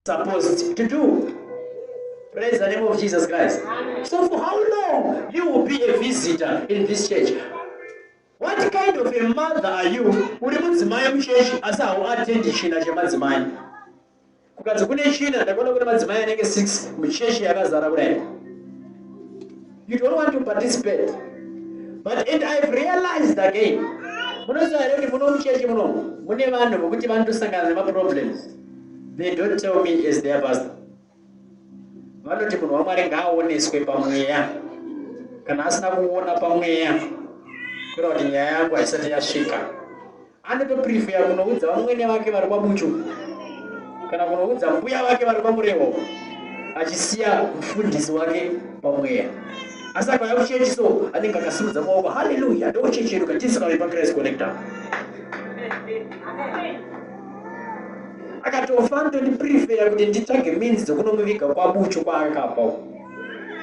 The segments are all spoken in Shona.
supposed to do. Praise the name of Jesus Christ. Amen. So for how long you will be a visitor in this church? What kind of a mother are you? Uri mudzimai muchechi asi hauatendi china chemadzimai. Kukanzi kune china ndakaona kune madzimai anenge 6 muchechi yakazara kudai. you don't want to participate but and i have realized again munoziva here kuti muno muchechi muno mune vanhu vokuti vanotosangana nemaproblems they don't tell me as their pastor vanoti munhu wamwari ngaaoneswe pamweya kana asina kuona pamweya kura kuti nyaya yangu haisati yasvika Anoto prefer kunoudza vamwene vake vari kwaBuchu kana kunoudza mbuya vake vari kwaMurewo achisiya mfundisi wake pamweya asi akauya kuchechi so anenge akasimudza maoko haleluya ndochechi yedu katisu kave pachrist connector akatofa ndondiprefeya kuti nditsvage minzi dzekunomuviga kwabucho kwaakapa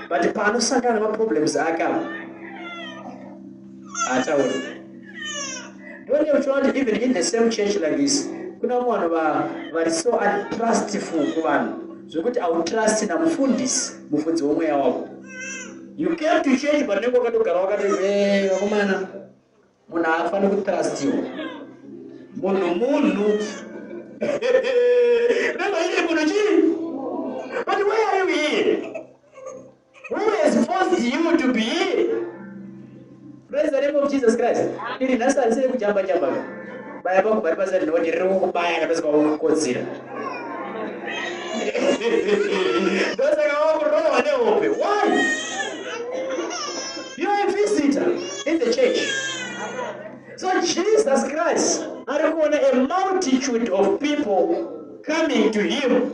but paanosangana nemaproblems ake apa haataure don't you try to even in the same church like this kuna vamwe vanhu vari so untrustful kuvanhu zvekuti autrust namufundisi mufundzi womweya wako you came to change but nenge wakatogara wakati eh, vakomana munhu haafani kutrustiwa munhu munhu remba iri munhu chii but where are you here Who has forced you to be here? Praise the name of Jesus Christ. Iri nhasi harisiri kujamba jamba ka. Baya pangu pari basa rinoti riri kukubaya kana pese kwakukodzira. Ndosaka wakurohwa nehope. Why? You are a visitor in the church. So Jesus Christ ari kuona a multitude of people coming to him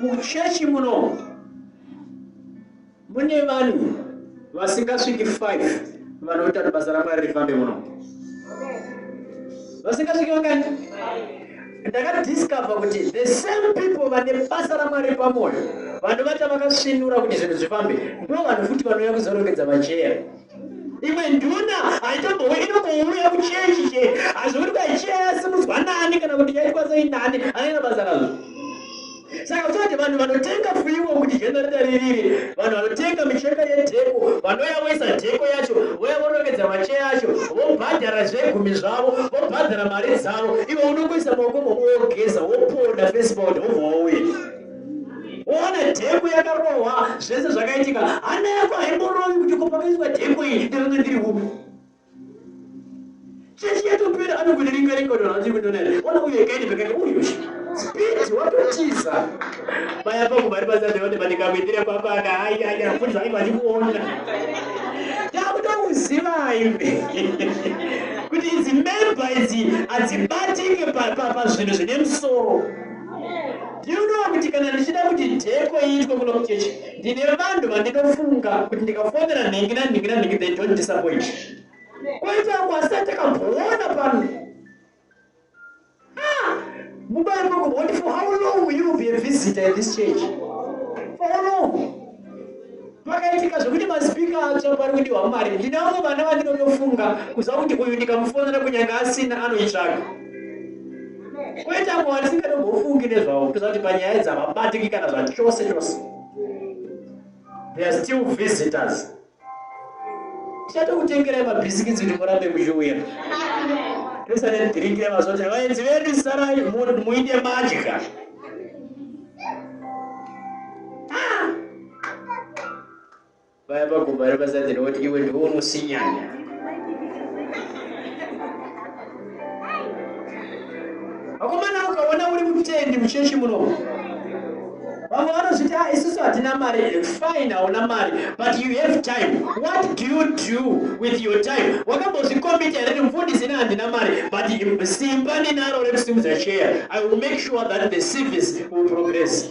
Muchechi muno mune vanhu vasingasviki 5 vanoita kuti basa raMwari rifambe muno. Vasingasviki vangani? Ndakadiscover kuti the same people vane basa raMwari pamwoyo vanovata vakasvinura kuti zvinhu zvifambe ndo vanhu futi vanouya kuzorongedza macheya imwe nduna haitombowe inongouya kuchechi che hazvo kuti kwaichiya yasimudzwa nani kana kuti yaitwa sei nani anoita basa razvo saka kutoti vanhu vanotenga fuiwo kuti jenareta ririri vanhu vanotenga micheka yedheko vanouya voisa dheko yacho vouya vorongedzera macheya acho vobhadhara zvegumi zvavo vobhadhara mari dzavo ivo unongoisa maoko moko wogeza woponda fesibod wobva wauya Ona dhepo yakarohwa zvese zvakaitika hana yako haimorovi kuti kopakaiswa dhepo iyi ndakanga ndiri upi chechi yatopera anokundiringa ringa kuti vanhu vachiri kundonaa ona uyo ikaini pekati uyu spidi watotiza vaya pangu vari pasadeone pandikakuitire kwapaka ayaya futi zvange vachikuona ndakutokuziva ive kuti idzi memba idzi hadzibatike pazvinhu zvine musoro Do you know kuti kana ndichida kuti dheko iitwe kuno kuchechi ndine vanhu vandinofunga kuti ndikafonera nhingi nanhingi nanhingi they don't disappoint kwaita kwasa takabhoona pano ah, mubayo makumboti for how long will you be a visitor in this church for how long pakaitika zvekuti maspeaker atsva pari kudiwa mari ndina vamwe vana vandinotofunga kuziva kuti uyu ndikamufonera kunyange asina anoitsvaga kwete amwe vandisingatombofungi nezvavo kutoziva kuti panyaya dzavabatiki kana zvachose chose they are still visitors tichatokutengerai mabhisikitsi kuti murambe muchiuya tese nedhiriki remazote vaenzi vedu sarai muite madya vaya pagumba repasatiri voti iwe ndiwo unosinyanya vakomana mukaona uri mutendi muchechi muno vamwe vanozviti a ah, isusu hatina mari fine hauna mari but you have time what do you do with your time wakambozvikombita here ndimufundisi ne handina mari but simba ndinaro rekusimudza cheya i will make sure that the service will progress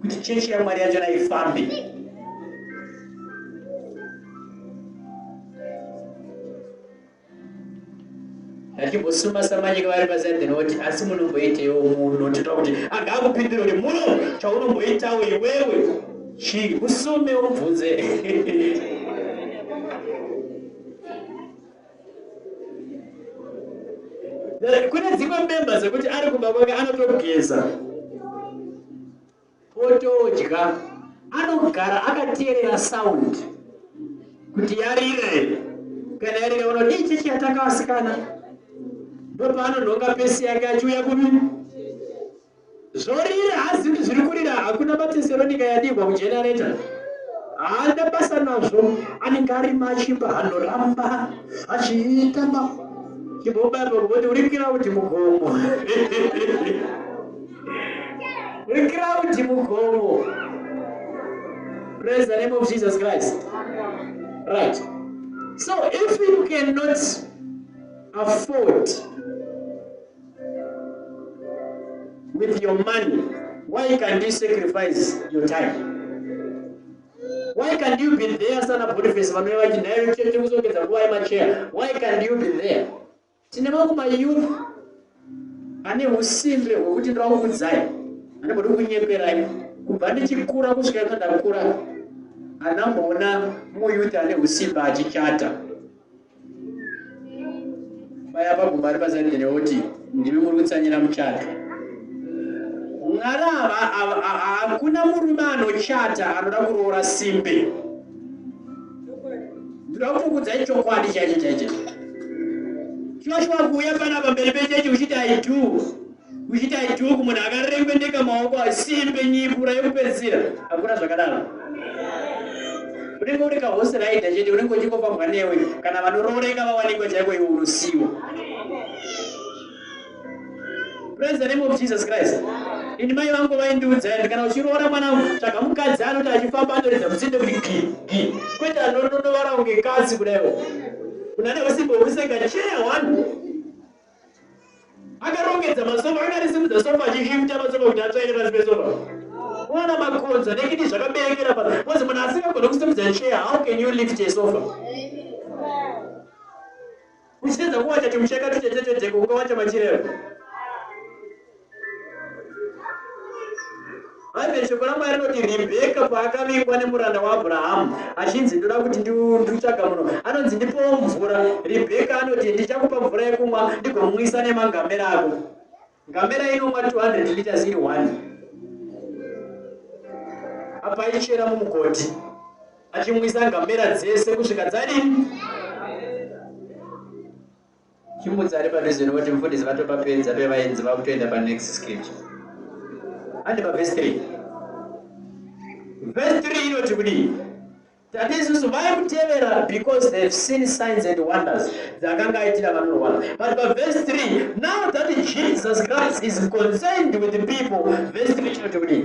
kuti chechi yamwari yachona ifambe achimbosuma samanyika vari pasaidhi noti asi munomboitewo muno tita kuti anga akupindira kuti muno chaunomboitawo iwewe chii usume ubvunze kune dzimwe mbemba dzekuti ari kumba kwake anotogeza otodya anogara akateerera sound kuti yarira here kana yarira unoti ichechi yatakawasikana ndopaanonhonga pesi yake achiuya kumi Zvorira hazviri zviri kurira hakuna mateseronika yadigwa kujenereta haana basa nazvo anenge ari machimba anoramba achiita chimbobaba kuti uri kiraundi mugomo uri kiraundi mugomo praise the name of jesus christ right so if you cannot afford with your money why can't you sacrifice your time why can't you be there sana boniface vanove vachi nhayo chete kuzongedza nguva yemacheya why can't you be there tine mamwe mayouth ane usimbe hwekuti ndirakukudzai ane bodi kunyeperai kubva ndichikura kusvika ino ndakura anamboona muyouth ane usimbe achichata Baya paguma ari paside here oti ndimi muri kutsanyira muchato. Ngarava ava- a- a- hakuna murume anochata anoda kuroora simbe. Ndinoda kutokudzai chokwadi chaicho chaicho. Shuwa shuwa kuuya panapa mberi pechechi uchiti I do. kuita iduku munhu akarembendeka maoko asimbe nyipura yekupedzisira akura zvakadaro unenge uri kahosi raida chete unenge uchingofambwa newe kana vanorooreka vawanikwa chaiko iwe unosiwa praise the name of jesus christ ini mai vangu vaindiudza indi kana uchiroora mwana wangu tsvaga mukadzi anoti achifamba anoridza musinde kuti gi gi kwete anondondovara kunge katsi kudaiwo kuna neusimbo huseka cheya one akarongedza masofa anga arisimudza sofa achishifta masofa kuti atsvaire pasi pesofa kuona makonza nekiti zvakaberekera pa bcause munhu asingagona kusimudza chair how can you lift a sofa uchiedza kuwacha chimusheka tuchetetedzeko ukawacha machirero Bhaibheri, Shoko raMwari rinoti Ribheka paakavingwa nemuranda waAbhurahamu achinzi ndoda kuti ndiutsvaga muno, anonzi ndipowo mvura. Ribheka anoti ndichakupa mvura yekumwa ndigomwisa nemangamera ako. Ngamera inomwa 200 liters iri one apa ichera mumugodhi achimwisa ngamera dzese kusvika dzadini Chimbudzi ari padhuze nekuti mufundisi vatopapedza pevaenzi vakutoenda panext sketch. Ande pavhesi 3. Vhesi 3 inoti kudii? Tati isusu vaimutevera because they have seen signs and wonders dzakanga aitira vanorwara. But pavhesi 3, now that Jesus Christ is concerned with the people, vhesi 3 inoti kudii?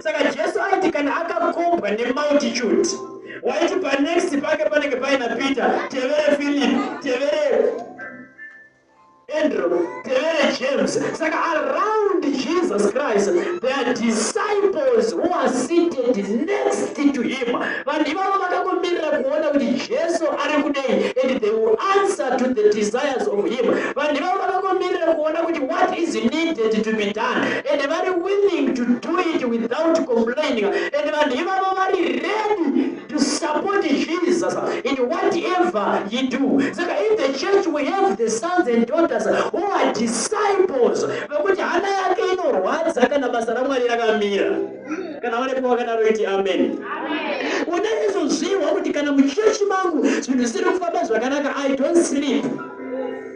Saka Jesu aiti kana akakobwa nemultitude waiti panext pake panenge paina Peter, tevere Philip, tevere Andrew, tevere James. Saka around Jesus Christ there are disciples who are seated next to him. Vanhu ivavo vakakomirira kuona kuti Jesu ari kudei and they will answer to the desires of him. Vanhu ivavo vakakomirira kuona kuti what is needed to be done. and vari willing to do it without complaining and vanhu ivavo vari ready to support jesus in whatever he do saka in the church we have the sons and daughters who are disciples vekuti hana yake inorwadza kana basa ramwari rakamira kana varipo vakadaro iti amen unaizoziva kuti kana muchechi mangu zvinhu zvisiri kufamba zvakanaka i don't sleep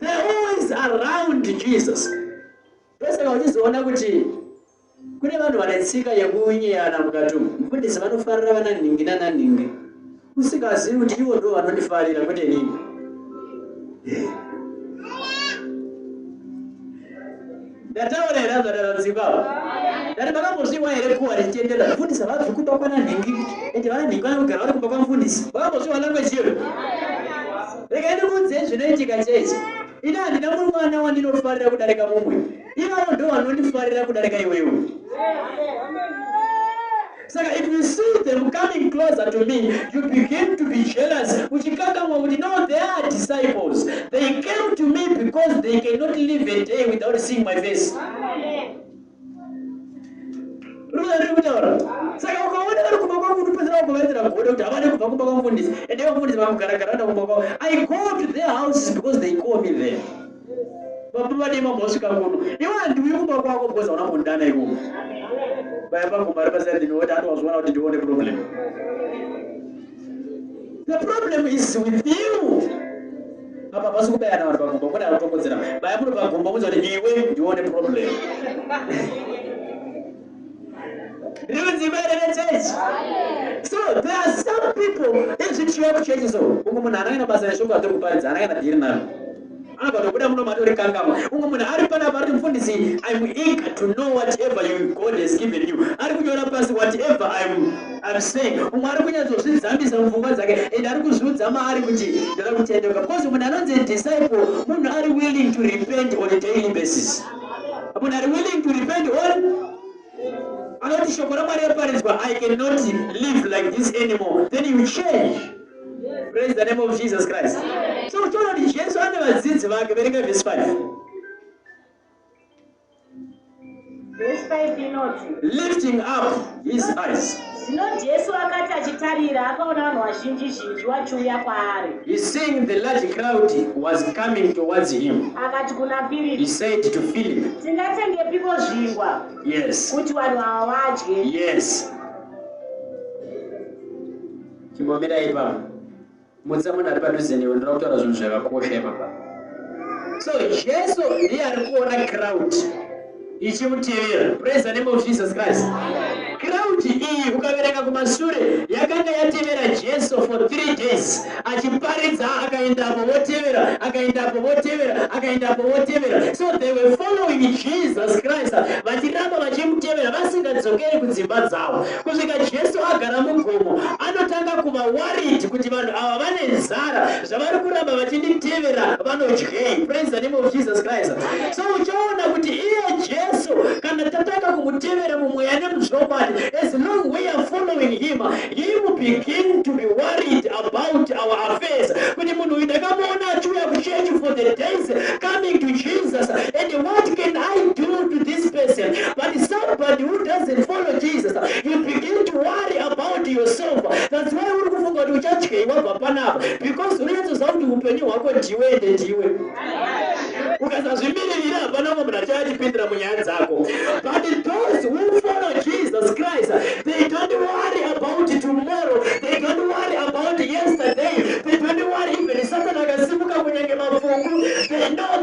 They always around Jesus. Pese vachizoona kuti kune vanhu vane tsika yekunyeyana mukati umu. Mfundisi vanofarira vana nhingi nana nhingi. Usikazivi kuti ivo ndo vanondifarira kwete nini. ndataura here azvadaradzipa dati vakambozviwa here kuwa richitendera mfundisi havabvi kumba kwana nhingi ende vana nhingi vanogara vari kumba kwamfundisi vakambozviwa language iyo rega ndikuudzei zvinoitika chechi ini handina mumwe mwana wandinofarira kudarika mumwe ivavo ndo vanondifarira kudarika iwewe Saka if you see them coming closer to me, you begin to be jealous. Uchikangamwa kuti no, they are disciples. They came to me because they cannot live a day without seeing my face. Saka ukaona vari kumba kwangu unopedzera kuvaitira godo kuti havade kubva kumba kwamufundisi ende vamufundisi vakugaragara vada kumba kwavo. I go to their houses because they call me there. Baba vadima mosvika kuno. Iwe handiuyi kumba kwako because hauna kundana ikomo. Baya pangu mari pasina ndinoona anozviona kuti ndione problem. The problem is with you. Apa pasi kubayana vanhu pagumbo kune anotokodzera. Baya muri pagumbo muzi kuti iwe ndione problem. Rinonzi bere rechechi. So there are some people ezvichiva kuchechi so umwe munhu anangana basa reshoko atiri kuparidza anangana dhiri naro anobva tobuda muno matori kangama umwe munhu ari panapa ari mufundisi im eager to know whatever you god has given you ari kunyora pasi whatever im im saying umwe ari kunyatsozvidzambisa mupfungwa dzake and ari kuzviudza maari kuti ndoda kutendeuka because munhu anonzi disciple munhu ari willing to repent on a daily basis But are willing to repent all anoti shoko ramwari raparinzwa i cannot live like this anymore then you change praise the name of jesus christ so uchiona kuti jesu ane vadzidzi vake verenga vhesi 5 lifting up his eyes. Zvino Jesu akati achitarira, akaona vanhu vazhinji zhinji wachiuya kwaari. He seeing the large crowd was coming towards him. Akati kuna Philip. He said to Philip. Tingatengepiko zvingwa? Yes. Kuti vanhu ava vadye. Yes. Chimbomirai ipapo. Mutsa munhu ari padhuze newe, ndoda kutaura zvinhu zvakakosha ipapa. So Jesu ndiye ari kuona crowd ichimutevera. Praise the name of Jesus Christ. Crowd iyi ukaverenga kumashure yakanga yatevera Jesu for three days achiparidza, akaendapo votevera, akaendapo votevera, akaendapo votevera. So they were following Jesus Christ vachiramba vachimutevera vasingadzokeri kudzimba dzavo. Kusvika Jesu agara mugomo, anotanga kuva worried kuti vanhu ava vane nzara, zvavari kuramba vachinditevera vanodyei. Praise the name of Jesus Christ. So uchaona kuti iye Jesu kana tatanga kumutevera mumweya nemuzvokwadi, as long we are following him, he will begin to be worried about our affairs. Kuti munhu uyu ndakamuona achiuya kuchechi for the days coming to Jesus and what can I do to this person. But somebody who doesn't follow Jesus, you begin to worry about yourself. That's why uri kufunga kuti uchadyei wabva panapa because unonyatsoziva kuti upenyu hwako ndiwe ende ndiwe ukasazvimiririra hapana umwe munhu achayatipindira munyaya dzako but those who follow jesus christ they don't worry about tomorrow they don't worry about yesterday they don't worry even satana akasimuka kunyange mapfungu they know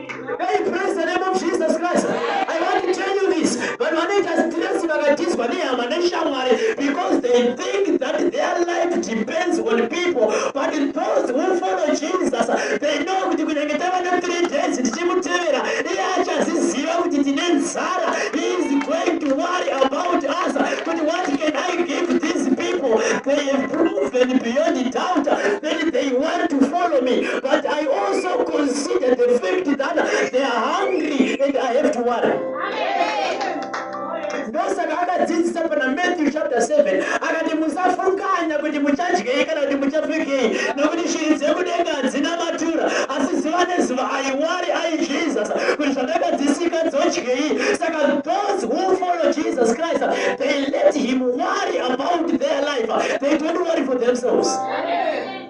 Hey, praise the name of Jesus Christ. I want to tell you this. Vanhu vanoita stress vakatizwa nehama neshamwari because they think that their life depends on people. But those who follow Jesus, they know kuti kunenge tava ne three days tichimutevera iye achaziziva kuti tine nzara. He is going to worry about us. But what can I give these people? They have proven beyond doubt that they want to follow me. But I also consider the fact that they are hungry and I have to worry. ndosaka akadzidzisa pana matthew chapter 7 akati musafunganya kuti muchadyei kana kuti muchapfekei nokuti shiri dzekudenga hadzina matura asi zuva nezuva aiwari ai jesus kuti zvandakadzisika dzodyei saka those who follow jesus christ they let him worry about their life they don't worry for themselves Amen.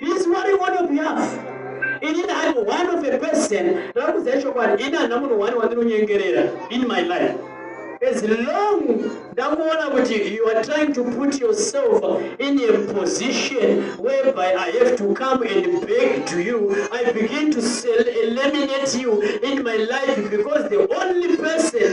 This one you want to be up. Ini I'm one of the person ndava kuziva chokwadi ini handina munhu wani wandinonyengerera in my life as long ndakuona kuti you are trying to put yourself in a position whereby i have to come and beg to you i begin to eliminate you in my life because the only person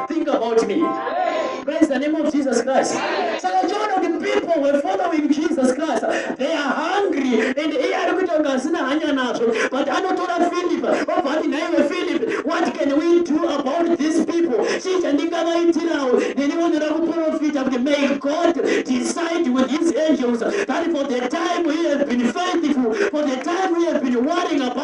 Think about me. Praise the name of Jesus Christ. Saka uchiona kuti people were following Jesus Christ. They are hungry and iye ari kuita kunge asina hanya nazvo. But anotora Philip obva ati nhaiwe Philip, what can we do about these people? Chii chandingavaitirawo? Neni vonera kuprofita kuti may God decide with his angels that for the time he has been faithful, for the time he has been worrying about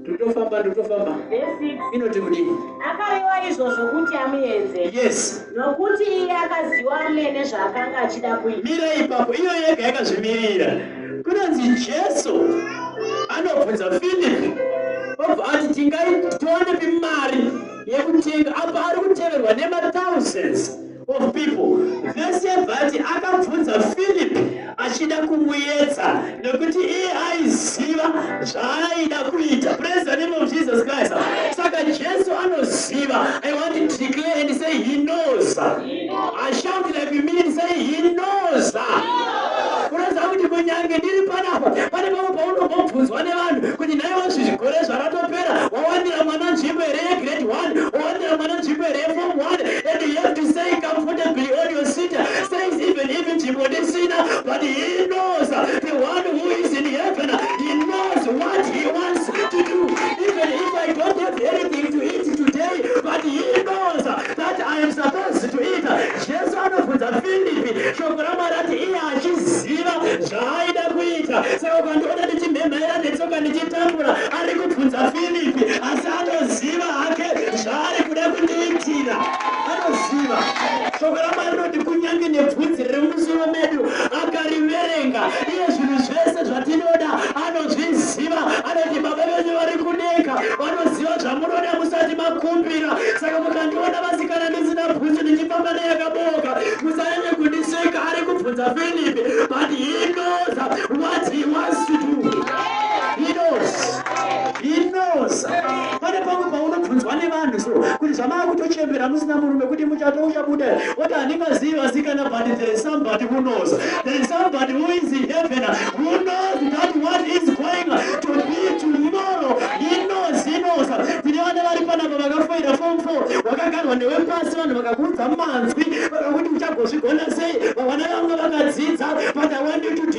ndotofamba ndotofamba inoti kudii akarewa izvozvo kuti amuenze yes nokuti iye akaziwa amene zvaakanga achida kuita mira ipapo iyo yega yakazvimirira kunonzi jesu anobvunza philip obva ati tingaitonepi mari yekutenga apa ari kuteverwa nemathousands of people vese vati akabvunza philip achida kumuyedza nekuti iye aiziva zvaaida kuita praise the name of jesus christ saka jesu anoziva i want to declare and say he knows i shout like you mean say he knows kuratidza kuti kunyange ndiri panapa pane pamwe paunombobvunzwa nevanhu kuti naiwazvi zvigore zvaratopera wawanira mwana nzvimbo here grade 1 or there mwana nzvimbo here yeform 1 and you have to say comfortably on your seat says even if nzvimbo ndisina but he knows the one who is in heaven he knows what he wants to do even if i don't have anything to eat today but he knows that i am supposed to eat jesu anobvunza filipi shoko ramwari ati iye achiziva zvaaida kuita saka ukandiona ndichimhemhaira netsoka ndichitambura ari kubvunza filipi asi anoziva hake zvaari kuda kundiitira anoziva shoko ramwari rinoti kunyange nebvunzi riri mumusoro medu akariverenga iye zvinhu zvese zvatinoda anozviziva anoti baba venyu vari kudenga vanoziva zvamunoda musati makumbira saka mukandiona vasikana ndisina bvunzi ndichifamba neyakaboka musanyanye kundiseka ari kubvunza filipi but he knows what he wants to do inoza pane pamwe paunobvunzwa nevanhu so kuti zvamaa kutochembera musina murume kuti muchato uchabuda oti handingazivi vasikana but there is somebody who knows there is somebody who is in heaven who knows that what is going to be tomorrow inoza inoza tine vana vari panapa vakafoira form four wakagarwa newe pasi vanhu vakakuudza manzwi vakakuti uchagozvigona sei vavana vanga vakadzidza but i want you to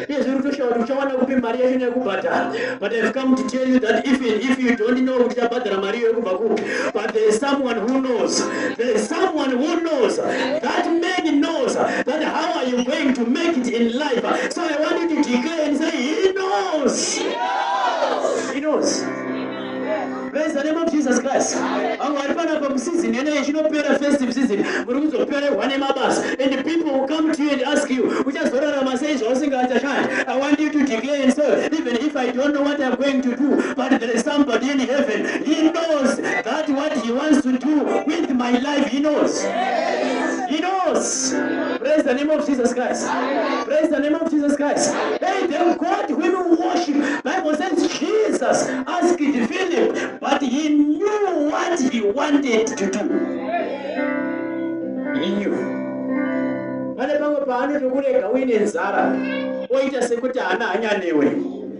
Yes, we to shout, uchawana kupi mari yacho nekubhadhara. But I've come to tell you that even if you don't know kuti chabhadhara mari iyo yekubva kupi, but there is someone who knows. There is someone who knows. That man knows that how are you going to make it in life. So I want you to declare and say, he knows. He knows. He knows. Praise the name of Jesus Christ. Vamwe vari panapa musizini yeneyi ichinopera festive season muri kuzopererwa nemabasa and people will come to you and ask you uchazorarama sei zvausingachashandi. I want you to declare and say even if I don't know what I'm going to do but there is somebody in heaven he knows that what he wants to do with my life he knows. He knows. Praise the name of Jesus Christ. Praise the name of Jesus Christ. Hey, them God whom you worship. Bible says Jesus asked Philip, but he knew what he wanted to do. He knew. Pane pamwe paanotokurega uine nzara oita sekuti haana hanya newe.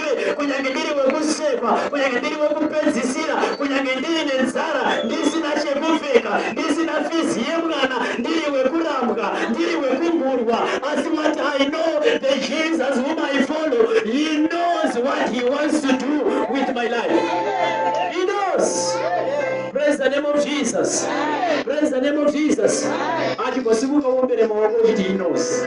ndive kunyange ndiri wekusekwa kunyange ndiri wekupedzisira kunyange ndiri nenzara ndisina chekupfeka ndisina fizi yemwana ndiri wekurambwa ndiri wekugurwa asi what i know the jesus whom i follow he knows what he wants to do with my life he knows praise the name of jesus praise the name of jesus achigosimuka uombere maoko uchiti he knows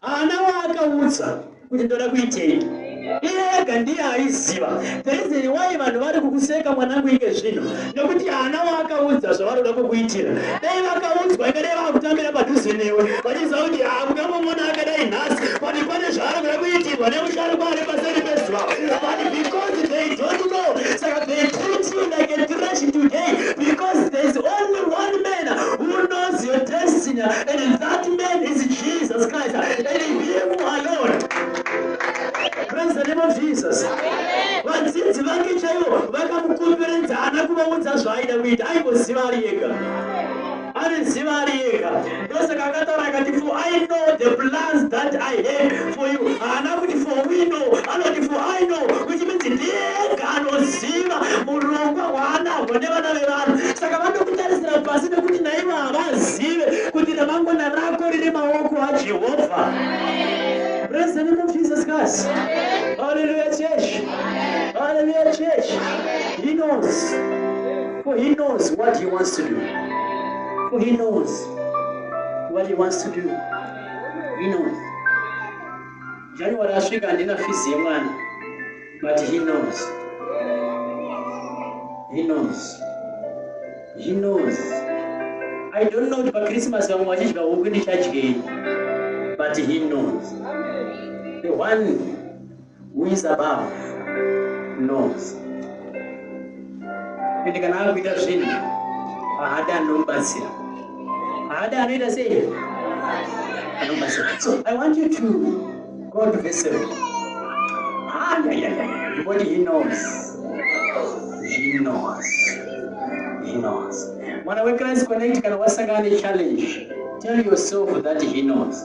Haana waakaudza kuti ndoda kuitei. Iye ega ndiye aiziva. Perizeni wai vanhu vari kukuseka mwanangu inge zvino nekuti haana waakaudza zvavaroda kukuitira. Dai vakaudzwa inge dai vakutambira padhuze newe vachiziva kuti hakungamomona akadai nhasi kuti pane zvaari kuda kuitirwa nemusharukwa ari paseri pezuva. But because they don't know saka they treat you like a trash today because there's only one man who knows your destiny and that man is Jesus Christ and him alone. Praise the name of Jesus. Vadzidzi vake chaivo vakamukomberedza ana kuvaudza zvaaida kuita aingoziva ari yega. anoziva ari ega ndosaka akataura akati for i know the plans that i had for you haana kuti for we know anoti for i know which means ndiega anoziva murongwa hwaanahwo nevana vevanhu saka vanokutarisira pasi nekuti naivo havazive kuti ramangwana rako rine maoko ajehovha praise the name of jesus christ hallelujah church hallelujah church he knows For he knows what he wants to do. For he knows what he wants to do. He knows. January asvika handina fizi yemwana but he knows. He knows. He knows. I don't know kuti paChristmas vamwe vachidya huku ndichadyei but he knows. The one Who is above knows. Ende kana ari kuita zvinhu haada anomubatsira. Haada anoita sei? Anomubatsira. So I want you to go to verse 7. Ah, yeah, yeah, yeah. What he knows. He knows. He knows. Mwana weKristu kana wasangana nechallenge, tell yourself that he knows.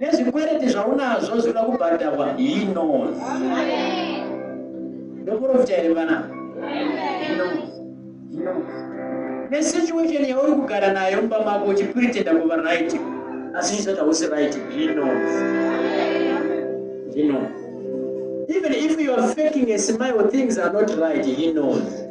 nezvikwereti zvaunazvo zvinoda kubhadharwa he knows ndoprofita here vana nesituation yauri kugara nayo mba mako uchipretenda kuva right asi chisati hausi right he knows he knows even if you are faking a smile things are not right he knows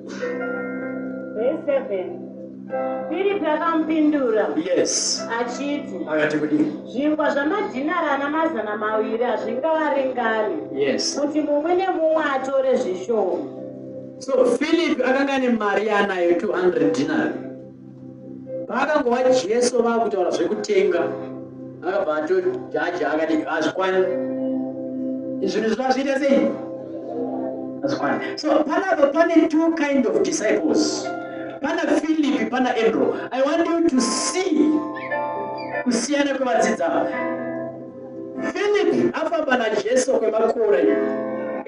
Firipi akamupindura yes. achiti akati kudii? Zvingwa zvamadhinari ana mazana maviri hazvingawaringani yes. kuti mumwe nemumwe atore zvishoma. So Firipi akanga ane mari yaanayo 200 dinari Paakangova Jesu vakutaura zvekutenga akabva atojaja akati hazvikwani zvinhu zvina zviita sei hazvikwani so panapa pane two kind of disciples pana philipi pana andrew i want you to see kusiyana kwevadzidzi ava philipi afamba najesu kwemakore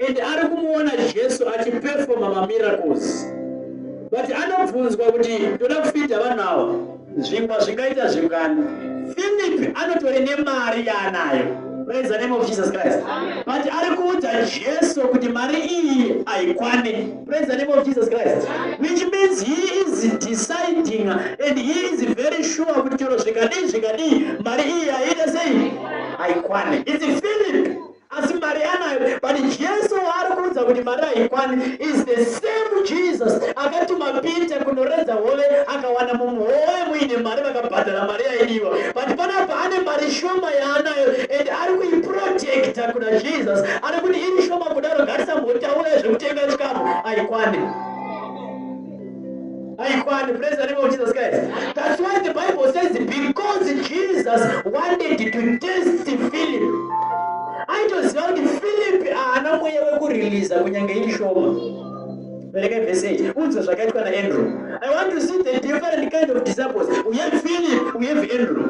and ari kumuona jesu achipefoma mamiracles but anobvunzwa kuti ndoda kufidha vanhu ava zvingwa zvingaita zvingani philipi anotore nemari yaanayo praise the name of jesus christ but ari kuudza jesu kuti mari iyi haikwani Praise the name of Jesus Christ. Which means he is deciding and he is very sure kuti chero zvikadii zvikadii mari iyi yaita sei haikwane. It's Philip asi mari anayo but Jesu waari kuudza kuti mari haikwane is the same Jesus akatuma Peter kunoredza hove akawana mumwe hove muine mari vakabhadhara mari yaidiwa but panapa ane mari shoma yaanayo and ari kuiprotecta kuna Jesus Ari kuti iri shoma kudaro ngatisambotaura zvekutenga chikafu aikwane. Aikwane, praise the name of Jesus Christ. That's why the Bible says because Jesus wanted to test Philip. Aitoziva kuti Philip haana mweya wekuriliza kunyange iri shoma. Vereka verse 8. Unzwe zvakaitwa naAndrew. I want to see the different kind of disciples. We have Philip, we have Andrew.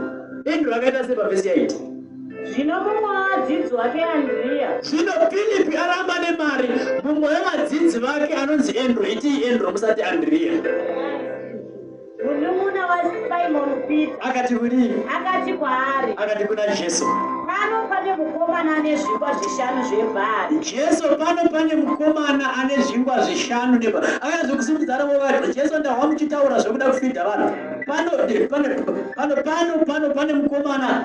Andrew akaita sei paverse 8? Zvino mumwe wavadzidzi wake Andriya. Zvino Filipi aramba nemari, mumwe wevadzidzi vake anonzi Endro, itii Endro musati Andriya. Munun'una waSimoni Pita. Akati kudii? Akati kwaari. Akati kuna Jesu. Pano pane mukomana ane zvingwa zvishanu zvebhari. Jesu pano pane mukomana ane zvingwa zvishanu nebhari. Akazwi kusimudzana vovati, Jesu ndahwa muchitaura zvekuda kufidha vanhu. Pano, pano, pano, pano, pano pane mukomana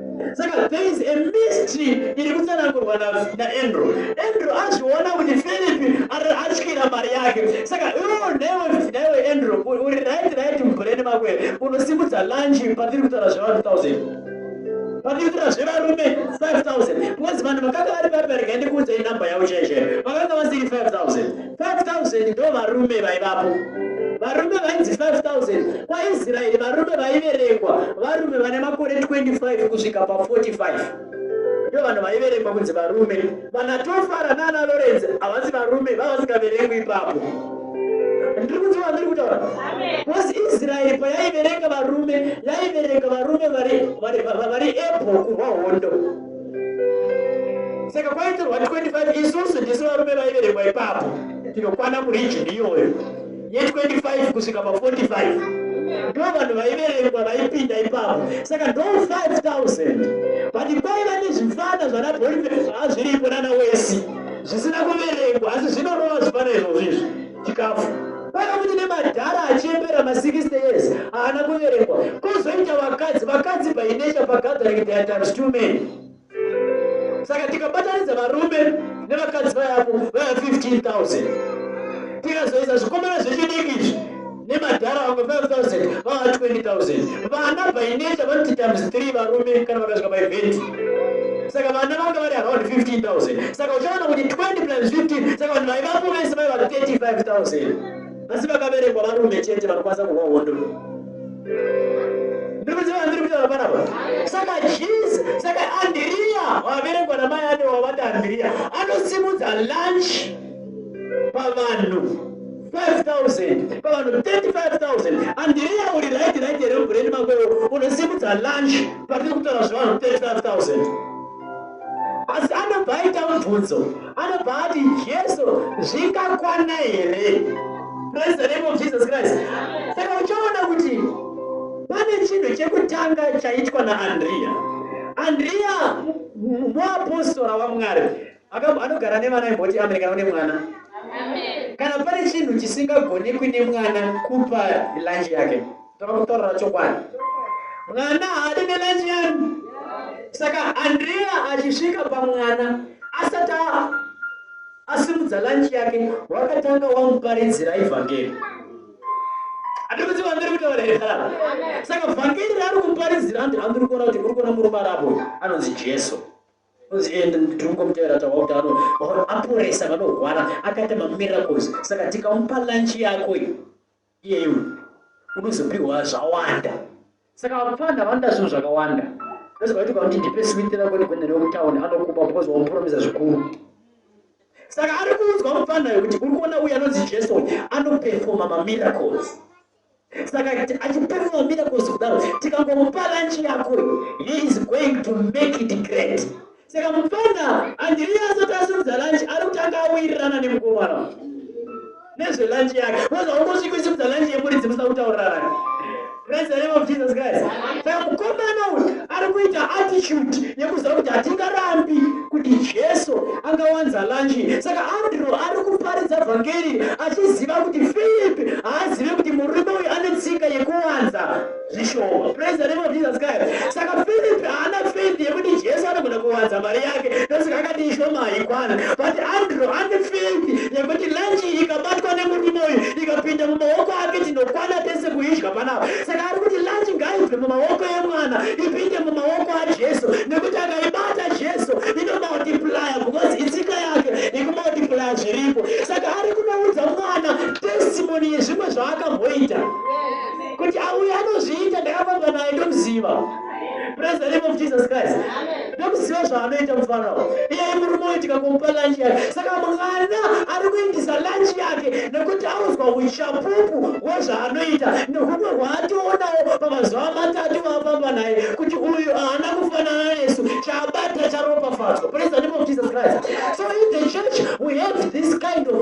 saka there is a mystery iri kutsanangurwa naandrew andrew azviona kuti philipi atyira mari yake saka iwo newe newe andrew uri right right mubhureni mako here unosimudza lunchi patiri kutaura zvevanhu thousand patiri kutaura zvevarume five thousand because vanhu vakanga vari vabereka ndikuudzai number yavo chaichai vakanga vasiri five thousand 5000 ndo varume vaivapo varume vainzi 5000 kwaisraeri varume vaiverengwa varume vane makore 25 kusvika pa 45 ndo vanhu vaiverengwa kunzi varume vana tofara nana lorenzi havasi varume vavasingaverengwi ipapo ndiri kunzwa vandiri kutaura bcause israeri payaiverenga varume yaiverenga varume vari epo kurwa hondo saka kwaitorwa 25 isusu ndisu varume vaiverekwa ipapo tinokwana muregion iyoyo ye25 kusvika pa45 ndo vanhu vaiverekwa vaipinda ipapo saka ndo 5000 but kwaiva nezvifana zvana bolive hazviripo nana wesi zvisina kuverekwa asi zvinorova zvifana izvozvo izvi chikafu pane kuti nemadhara achembera ma60 years haana kuverekwa kozoita vakadzi vakadzi bainecha pagathering their times two men saka tikabatanidza varume nevakadzi vayavo vaya 15000 tikazoisa zvikomana zvechidiki izvi nemadhara vamwe 5000 vava 20000 vana bainecha vanoti times 3 varume kana vakasvika maeventi saka vana vanga vari around 15000 saka uchaona kuti 20 plus 15 saka vanhu vaivapo vese vaiva 35000 asi vakaverekwa varume chete vanokwanisa kuva hondo ndikuzivandirikutoapanapa saka jes saka andiriya waverekwa namai ane wavati andiriya anosimudza lunch pavanhu 5000 pavanhu 35000 andiriya uri right right here mubhureni makowo unosimudza lunch patiri kutaura zvevanhu 35000 asi anobva aita mubvunzo anobva ati jesu zvingakwana here praise the name of jesus christ saka uchaona kuti pane chinhu chekutanga chaitwa naandriya andriya muapostora wamwari Akabva anogara nevana imboti amen kana une mwana. Kana pane chinhu chisingagonekwi nemwana kupa lunch yake. Tava kutaurira chokwadi. Mwana haadi nelunch yanu. Saka Andrea achisvika pamwana asati asimudza lunch yake wakatanga wamuparidzira evhangeri. Atiri kuti vangeri kuti varehara. Saka vhangeri raari kuparidzira andiri kuona kuti uri kuona murume arapo anonzi Jesu. Kunzi iye ndiri kungomutevera taura kuti ano aporesa vanorwara akaita mamiracles saka tikamupa lunch yako iyeyo unozopihwa zvawanda saka vapfana vanoda zvinhu zvakawanda ndoziva kuti kwakuti ndipe switi rako ndikuendere kutauni anokupa because wamupromisa zvikuru saka ari kuudzwa mupfana yokuti uri kuona uyu anonzi jason anopefoma mamiracles saka achipemwa miracles kudaro tikangomupa lunch yako he is going to make it great saka mupfana andiri asati asimudza lunch ari kutanga awirirana nemukomana nezve lunch yake unonzi haungosviki usimudza lunch yemuridzi musa kutaurirana Praise the name of Jesus Christ. Saka mukomana uyu ari kuita attitude yekuziva kuti hatingarambi kuti jesu angawanza lanchi saka andrew ari kuparidza vhangeri achiziva kuti philip haazive kuti murume uyu ane tsika yekuwanza zvishoma praise the name of jesus christ saka philip haana faith yekuti jesu anogona kuwanza mari yake ndosaka akati ishoma haikwana but andrew ane faith yekuti lanchi ikabatwa nemurume uyu ikapinda mumaoko ake tinokwana tese kuidya panapa Saka ari kuti lunch ngaibve mumaoko emwana ipinde mumaoko aJesu nekuti akaibata Jesu inomultiplier because itsika yake ikumultiplier zviripo. Saka ari kunoudza mwana testimony yezvimwe zvaakamboita kuti auya anozviita ndakafamba naye ndomuziva. Praise the name of Jesus Christ. Ndokuziva zvaanoita mufana uyu. Iye murume uyu tikamupa lunch yake. Saka mwana ari kuindisa lunch yake nekuti audzwa uchapupu hwezvaanoita nehume hwaatoonawo pamazuva matatu vaafamba naye kuti uyu haana kufanana nesu chabata charopafadzwa. Praise the name of Jesus Christ. So in the church we have this kind of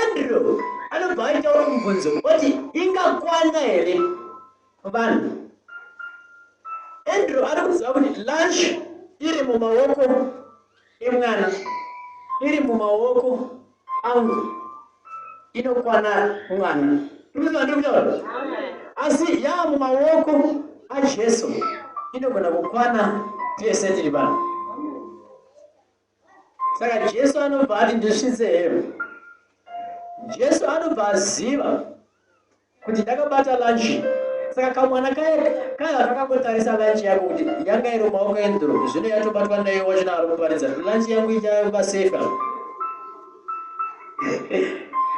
Andrew anobva aitaura mubvunzo oti ingakwana here vanhu Andrew ari kuziva kuti lunch iri mumaoko emwana iri mumaoko angu inokwana mwana ndikutaura asi yaa mumaoko ajesu inogona kukwana tese tiri vanhu saka jesu anobva ati ndisvitse hembe jesu anobva aziva kuti ndakabata lanchi saka kamwana kaye kaye kakangotarisa lanchi yako kuti yanga iri maoko endro zvino yatobatwa nayo wachina ari kuparidza lanchi yangu ichava safe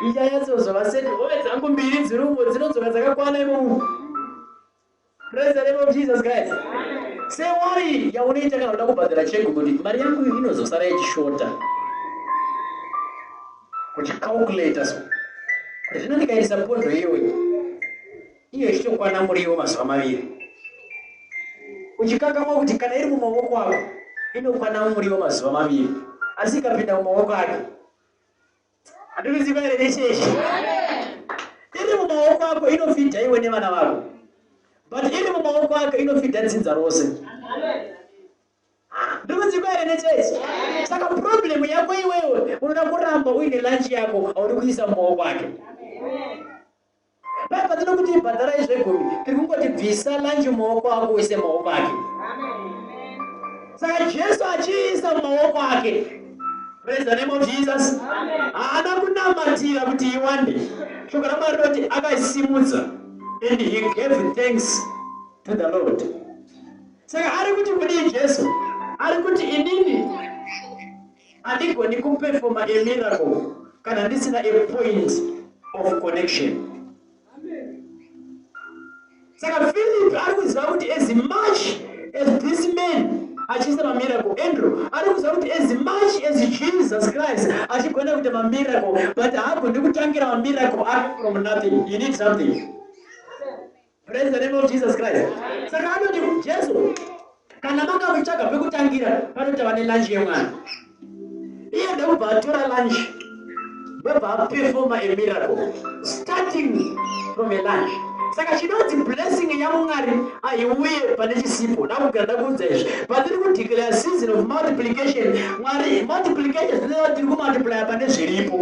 ichayatsozo vaseti hove dzangu mbiri dziri umo dzinodzoka dzakakwana imomu Praise the name of Jesus guys. Say worry yaunoita kana uda kubhadhara cheki kuti mari yangu inozosara ichishota. Kuti calculator so. Kuti zvino ndikaisa pondo iyoyi. Iyo ichitokwana muriwo mazuva maviri. Uchikangamwa kuti kana iri mumaoko ako inokwana muriwo mazuva maviri. Asi ikapinda mumaoko ake Andikuziva here nechechi? Iri mumaoko ako inofidha iwe nevana vako. But iri mumaoko ako inofidha dzinza rose. Ndikuziva here nechechi? Saka problem yako iwewe unoda kuramba uine lunch yako auri kuisa mumaoko ake. Mari patino kuti ibhadharai zvegumi tiri kungoti bvisa lanji mumaoko ako uise mumaoko ake saka jesu achiisa mumaoko ake praise the name of jesus haana kunamatira kuti iwande shoko ramwari rinoti akaisimudza and he gave thanks to the lord saka ari kuti kudii jesu ari kuti inini Andigoni kuperfoma a miracle kana ndisina a point of connection. Saka Philip ari kuziva kuti as much as this man achiisa mamiracle andrew ari kuziva kuti as much as jesus christ achigona kuita mamiracle but haagoni kutangira mamiracle ake from nothing you need something Praise the name of Jesus Christ. Saka anoti Jesu kana manga muchitsvaga pekutangira panoti vane lunch yemwana. Iye ndakubva atora lunch ndobva apefoma a miracle starting from a lunch. Saka chinonzi blessing yaMwari haiuye pane chisipo. Ndakugara ndakuudza izvi. Patiri kudeclare season of multiplication, Mwari multiplication zvinova tiri kumultiplya pane zviripo.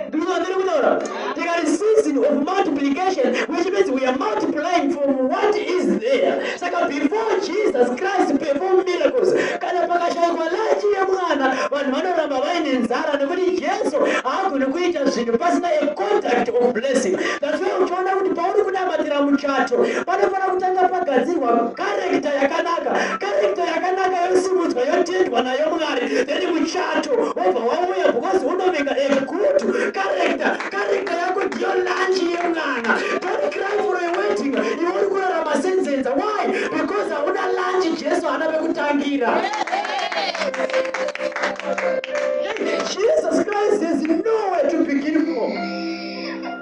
Ndikuti vandiri kutaura tikati season of multiplication which means we are multiplying from what is there saka before jesus christ perform miracles kana pakashaikwa lachi yemwana vanhu vanoramba vaine nzara nekuti jesu haagoni kuita zvinhu pasina a contact of blessing that's why uchiona kuti pauri kunamatira muchato panofanira kutanga pagadzirwa karekta yakanaka karekta yakanaka yosimudzwa yotendwa nayo mwari then muchato wobva wauya because unovinga Good character, character yako ndiyo lunch yemwana. Don't cry for a wedding. Iwe uri kurarama senzenza. Why? Because hauna lunch Jesu hana vekutangira. Jesus Christ has nowhere to begin from.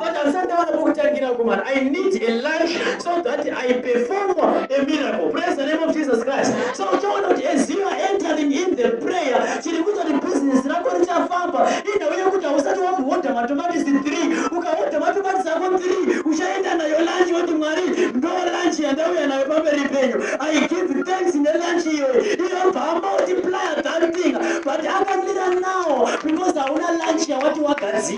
But handisati ndawana pokutangira kumana. I need a life so that I perform a miracle. Praise the name of Jesus Christ. So uchaona kuti as you are entering in the prayer, chiri kuita kuti business rako richafamba. Indawo yekuti hausati wambohodha matomatisi 3. Ukahodha matomatisi ako 3, uchaenda nayo lunch woti Mwari, ndo lunch yandauya nayo pamberi penyu. I give thanks ne lunch iyoyo. Iyo bhamba multiplier that thing. But akamira now because hauna lunch yawati wagadzira.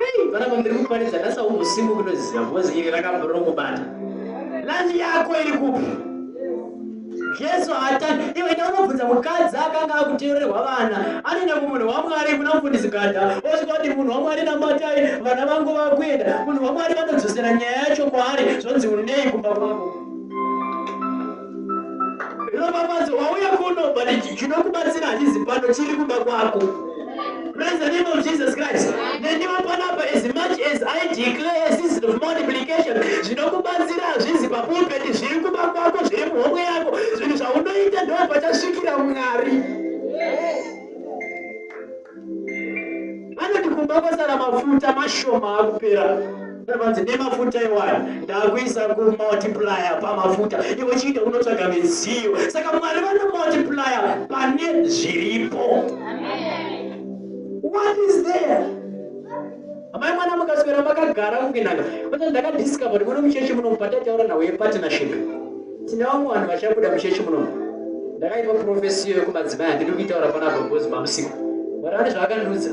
Hey, vana vambiri kuparidza ndasa umusimu kunoziva because iri rakambori rokubata. Lunch yako iri kupi? Jesu haatani. Iwe enda unobvunza mukadzi akanga akuteererwa vana. Anoenda kumunhu waMwari kuna mufundisi Gada. Osvika kuti munhu waMwari namatai vana vangu vakuenda. Munhu waMwari vanodzosera nyaya yacho kwaari zvonzi unei kumba kwangu. Ropafadzo wauya kuno but chinokubatsira hachizi pano chiri kuba kwako. Praise the name of Jesus Christ. Nendiwa panapa as much as I declare a season of multiplication zvinokubatsira hazvizi papulpit zviri kuba kwako zviri muhomwe yako zvinhu zvaunoita ndoo pachasvikira Mwari. vanoti kumba kwasara mafuta mashoma akupera vanzi nemafuta iwaya ndakuisa kumultiplier pamafuta iwe chiita unotsvaga midziyo saka mwari vanomultiplier pane zviripo what is there amai mwana mukaswera makagara kukinaka kota ndakadiscover kuti muno muchechi munomu patataura nhau yepartnership tine vamwe vanhu vachabuda muchechi munomu ndakaipa profesiyo yekumadzimai handidi kuitaura pana gogozi mamusiku mwari vane zvaakandiudza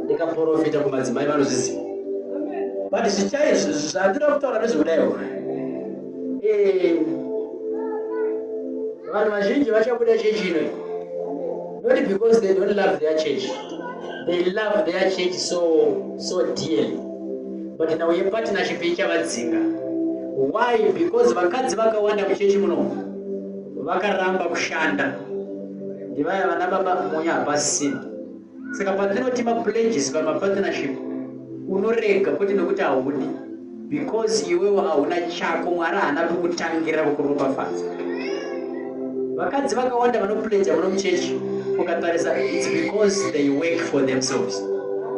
ndikaprofita kumadzimai vanozviziva but zvichai zvandira kutaura nezvekudaiwo eh, vanhu vazhinji vachabuda chechi ino not because they don't love their church they love their church so so dearly but now yepartnership ichavadzinga why because vakadzi vakawanda muchechi muno vakaramba kushanda ndivaya vana baba munya hapasina saka patinoti mapledges pamapartnership unorega kwete nekuti haudi because iwewo hauna chako mwari haana kukutangira kukuropafadza vakadzi vakawanda vanopledza muno muchechi ukatarisa its because they work for themselves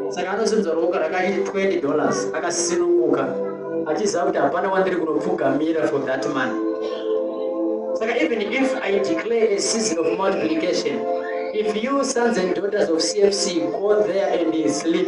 saka anozonzwa roka rakaiti 20 dollars akasinunguka achiziva kuti hapana wandiri kunopfugamira for that man saka even if i declare a season of multiplication if you sons and daughters of cfc go there and sleep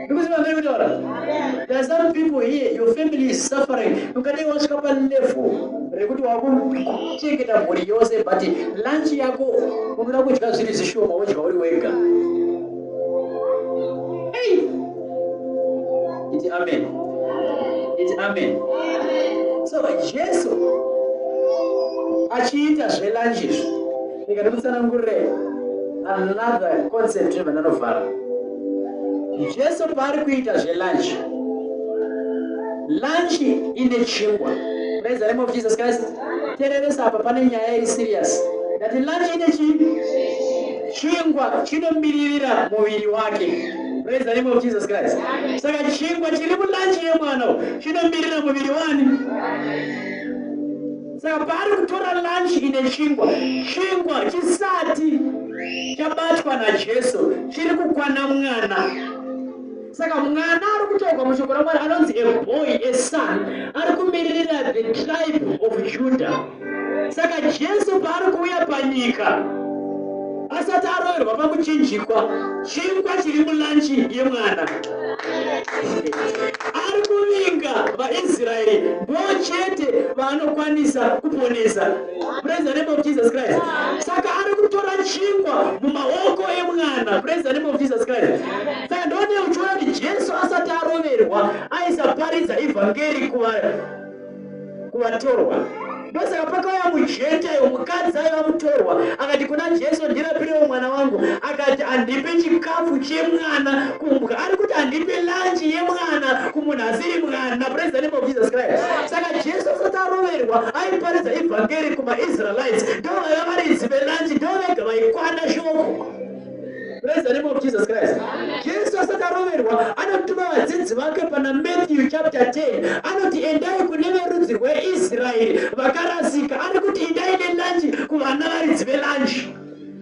Because my very daughter, there are some people here, your family is suffering. You can't even stop a level. Rekuti wakuchengeta mhuri yose but lunch yako unoda kudya zviri zvishoma wodya uri wega. Hey. Iti amen. Iti amen. So Jesu achiita zvelunch izvi Rega ndikutsanangurire another concept yevananovhara. Jesu paari kuita zvelunch, lunch ine chingwa. Praise the name of Jesus Christ. Tereresa apa pane nyaya iri serious. That lunch ine chi chingwa chinomiririra muviri wake. Praise the name of Jesus Christ. Saka chingwa chiri mulunch yemwana chinomirira muviri wani? Saka ari kutora lunch ine chingwa, chingwa chisati chabatwa naJesu chiri kukwana mwana. Saka mwana ari kutaurwa mushoko raMwari anonzi a boy, a son, ari kumiririra the tribe of Judah. Saka Jesu paari kuuya panyika asati aroverwa pakuchinjikwa chingwa chiri mulanchi yemwana ari kuvinga vaisraeri ndo chete vaanokwanisa kuponesa praise the name of jesus christ saka ari kutora chingwa mumaoko emwana praise the name of jesus christ saka ndone uchiona kuti jesu asati aroverwa aisaparidza evhangeri kuvanhu kuvatorwa ndosaka pakauya mujentayo mukadzi aiva mutorwa akati kuna jesu ndirapirewo mwana wangu akati handipe chikafu chemwana kumbwa ari kuti handipe lanji yemwana kumunhu asiri mwana praise the name of jesus christ saka jesu asati aroverwa aiparidza evhangeri kumaisraelites ndovaiva varidzi velanji ndovega vaikwana shoko Praise the name of Jesus Christ. Jesu asati aroverwa anotuma vadzidzi vake pana Matthew chapter 10 anoti endai kune verudzi rweIsraeri vakarasika ari kuti endai nelanji kuvana varidzi velanji.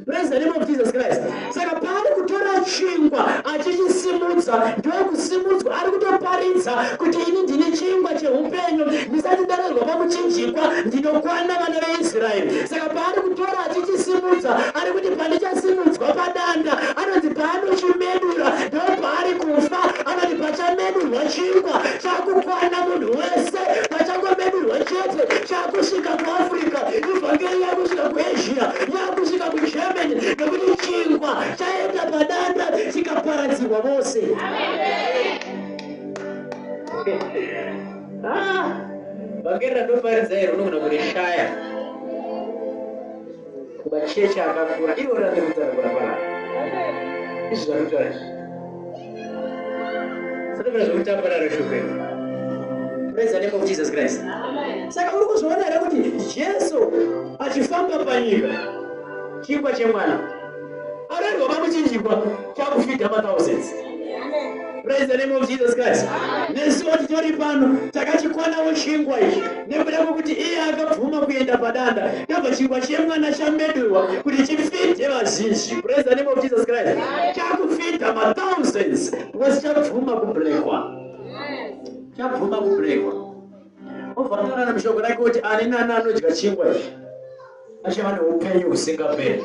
Praise the name of Jesus Christ. Saka paari kutora chingwa achichisimudza ndokusimudzwa ari kutoparidza kuti ini ndine chingwa cheupenyu ndisati ndarerwa pamuchinjikwa ndinokwana vana veIsraeri. Saka paari kutora achichisimudza ari kuti pandichasimudzwa padanda anonzi paanochimedura ndopaari kufa anoti pachamedurwa chingwa chakukwana munhu wese pachangomedurwa chete chakusvika kuafrica ivhangeri yakusvika kuasia yakusvika kugermany nekuti chingwa chaenda padanda chikaparadzirwa vose ah, vhangeri randoparidza iri unogona kurishaya machechi akakura ivo randikutara kurapa navo izvi zvakutaura izvi saka mune zvekutamba naro shuveni praise the name of jesus christ saka uri kuzviona here kuti jesu achifamba panyika chingwa chemwana Arero vamuchinjikwa chakufita ma thousands. Praise the name of Jesus Christ. Nesu titori pano takachikwanawo chingwa ichi nekuda kwekuti iye akabvuma kuenda padanda ndobva chingwa chemwana chamedurwa kuti chifite vazhinji. Praise the name of Jesus Christ. Chakufita ma thousands because chabvuma kubrekwa. Chabvuma kubrekwa. Obva ataura nemushoko rake kuti ani nani anodya chingwa ichi achava neupenyu husingaperi.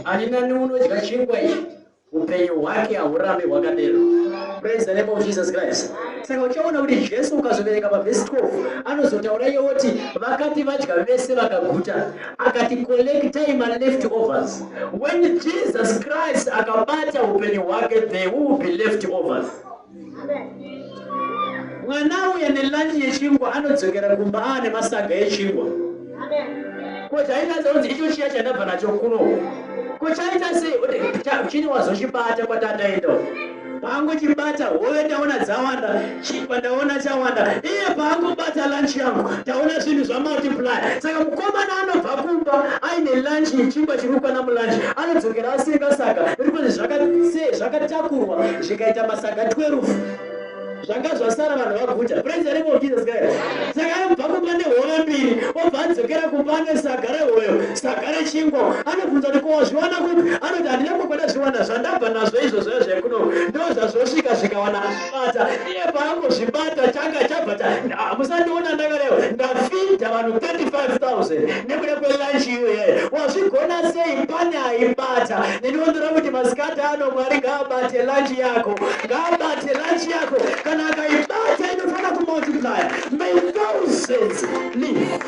Ani nani unodya chingwa ichi upenyu hwake haurambi hwakadero. Praise the name of Jesus Christ. Saka uchaona kuti Jesu ukazoverenga pavhesi 12 anozotaura iye woti vakati vadya vese vakaguta akati collectai maleft overs. When Jesus Christ akabata upenyu hwake there will be left overs. mwana auya nelanyi yechingwa anodzokera kumba aa nemasaga echingwa ko chaitadza kunzi icho chiya chandabva nacho kuno ko chaita sei oti chini wazochibata kwatataenda pangu chibata hove taona dzawanda chingwa ndaona chawanda iye pangu bata lanchi yangu taona zvinhu zvamultiply saka mukomana anobva kumba aine lanchi yechingwa chiri kukwana mulanchi anodzokera asenga saka iri kuti zvakatakurwa zvikaita masaga 12 zvanga zvasara vanhu vaguta praise the name of jesus christ saka anobva kumba nehove mbiri obva adzokera kumba ane saga rehoyo saga rechingwa anobvunza kuti kowazviwana kupi anoti handina kukwada zviwana zvandabva nazvo izvozvoya zvekuno ndo zvazvosvika zvikawana bata iye paangozvibata changa chabva musandiona ndakarewa ndafinda vanhu 35 000 nekuda kwelunch iyoyo wazvigona sei pane aibata ndinondira kuti masikati ano mwari ngaabate lunch yako ngaabate lunch yako kana akaibata inofana kumultiplier may thousands live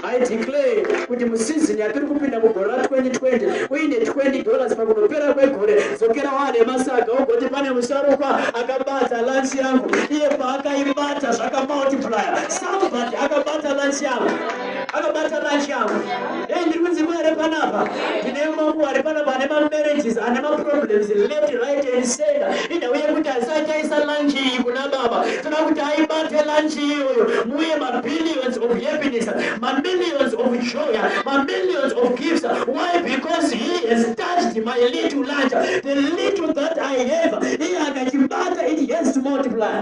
i declare kuti musizini yatiri kupinda mugore ra 2020 uine 20 dollars pakunopera kwegore dzokera wane masaga ugoti pane musharukwa akabata lunch yangu iye paakaibata zvakamultiplier Akabata, akabata lunch yangu. Akabata lunch yangu. Hey, ndiri kunzi kwa ere panapa. Tine mambo ari panapa ane ma marriages, ane ma problems left, right and center. Ina uye kuti asachaisa lunch iyi kuna baba. Tuna kuti aibate lunch iyoyo. Muye ma billions of happiness, ma millions of joy, ma millions of gifts. Why? Because he has touched my little lunch. The little that I have, iye akachibata, it has to multiply.